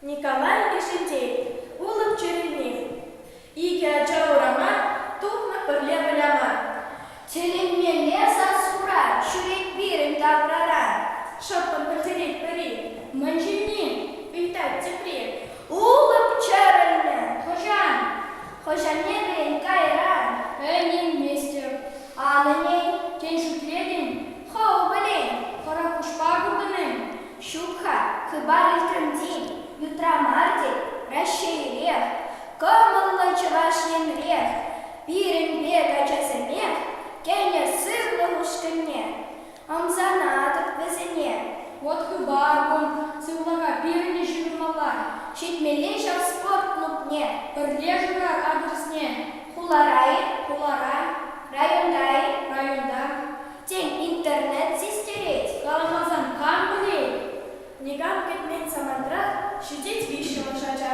Николай Кӗшӗнтей, Улӑп Чӗрӗлни. Икӗ ача урама тухнӑ пӗрле выляма. Тӗлӗнмелле сассура ҫӳрет пирӗн таврара. Шӑппӑн пӗлтерет пӗри, мӗн ҫынни, ыйтать тепри. Улӑп Чӗрӗлнӗ, хӑҫан? Хӑҫ анне вӗрен кайран? Эн илместӗп аннӗн, тен, шӳтлетӗн? Хӑв пӗлен, хӑрӑкуҫпа куртӑн-им? Ҫук-ха, хыпар илтрӗм тен, ютра мар тет, Раҫҫейрех, кӑмӑллӑ Чӑваш Енрех, пирӗн пек ачасемех кӗнӗ сывлӑх ушкӑнне. Ӑмсанатӑп вӗсене. Вӑт хыпар кун, сывлӑха пирӗнтен ҫырӑнмалла. Ҫитмелле ҫав спорт клубне, пӗрле шырар адресне. Хулара-и, хулара, районта-и, районта, тен, интернет систерет. Каламасан кам пӗлет? Никам кӗтмен самантрах ҫитет виҫҫӗмӗш ача.